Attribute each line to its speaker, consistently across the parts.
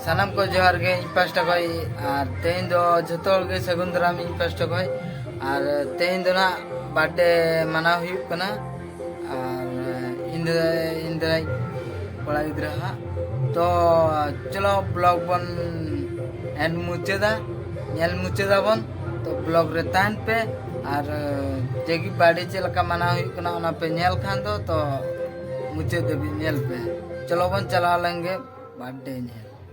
Speaker 1: ᱥᱟᱱᱟᱢ ᱠᱚ ᱡᱚᱦᱟᱨ ᱜᱮ ᱤᱧ ᱯᱟᱥᱴᱟ ᱠᱷᱚᱡ ᱟᱨ ᱛᱮᱦᱮᱧ ᱫᱚ ᱡᱚᱛᱚ ᱦᱚᱲ ᱜᱮ ᱥᱟᱹᱜᱩᱱ ᱫᱟᱨᱟᱢ ᱤᱧ ᱯᱟᱥᱴᱟ ᱠᱷᱚᱡ ᱟᱨ ᱛᱮᱦᱮᱧ ᱫᱚ ᱱᱟᱜ ᱵᱟᱨᱛᱷᱰᱮ ᱢᱟᱱᱟᱣ ᱦᱩᱭᱩᱜ ᱠᱟᱱᱟ ᱟᱨ ᱤᱧ ᱫᱟᱫᱟᱭ ᱠᱚᱲᱟ ᱜᱤᱫᱽᱨᱟᱹ ᱦᱟᱸᱜ ᱛᱚ ᱪᱚᱞᱚ ᱵᱞᱚᱜ ᱵᱚᱱ ᱮᱱᱰ ᱢᱩᱪᱟᱹᱫᱟ ᱧᱮᱞ ᱢᱩᱪᱟᱹᱫᱟᱵᱚᱱ ᱛᱚ ᱵᱞᱚᱜ ᱨᱮ ᱛᱟᱦᱮᱱ ᱯᱮ ᱟᱨ ᱡᱮᱜᱮ ᱵᱟᱨᱰᱮ ᱪᱮᱫ ᱞᱮᱠᱟ ᱢᱟᱱᱟᱣ ᱦᱩᱭᱩᱜ ᱠᱟᱱᱟ ᱚᱱᱟ ᱯᱮ ᱧᱮᱞ ᱠᱷᱟᱱ ᱫᱚ ᱛᱚ ᱢᱩᱪᱟᱹᱫ ᱫᱷᱟᱹᱵᱤᱡ ᱧᱮᱞ ᱯᱮ ᱪᱚᱞᱚ ᱵᱚᱱ ᱪᱟᱞᱟᱣ ᱞᱮᱱᱜᱮ ᱵᱟᱨᱰᱮ ᱧᱮᱞ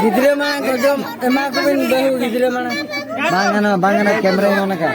Speaker 1: ᱜᱤᱫᱽᱨᱟᱹ ᱢᱟ ᱡᱚᱢ ᱮᱢᱟ ᱠᱚᱵᱤᱱ ᱵᱟᱹᱦᱩ ᱜᱤᱫᱽᱨᱟᱹ ᱢᱟ ᱵᱟᱝ ᱜᱟᱱᱚᱜᱼᱟ ᱵᱟᱝ ᱜᱟᱱᱚᱜᱼᱟ ᱠᱮᱢᱨᱟ ᱮᱢᱟ ᱚᱱᱟ ᱠᱟᱱ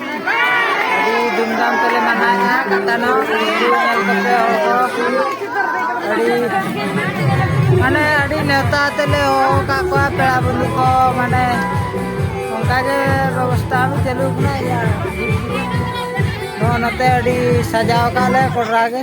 Speaker 1: ᱟᱹᱰᱤ ᱫᱷᱩᱢᱫᱷᱟᱢ ᱛᱮᱞᱮ ᱢᱟᱱᱟᱣᱮᱫᱼᱟ ᱠᱟᱛᱟᱱᱚ ᱢᱟᱱᱮ ᱟᱹᱰᱤ ᱱᱮᱣᱛᱟ ᱛᱮᱞᱮ ᱦᱚᱦᱚ ᱟᱠᱟᱫ ᱠᱚᱣᱟ ᱯᱮᱲᱟ ᱵᱚᱱᱫᱷᱩ ᱠᱚ ᱢᱟᱱᱮ ᱚᱱᱠᱟᱜᱮ ᱵᱮᱵᱚᱥᱛᱷᱟ ᱦᱚᱸ ᱪᱟᱹᱞᱩ ᱠᱟᱱᱟ ᱤᱭᱟᱹ ᱱᱚᱜᱼᱚ ᱱᱚᱛᱮ ᱟᱹᱰᱤ ᱥᱟᱡᱟᱣ ᱠᱟᱜᱼᱟ ᱞᱮ ᱠᱚᱰᱨᱟ ᱜᱮ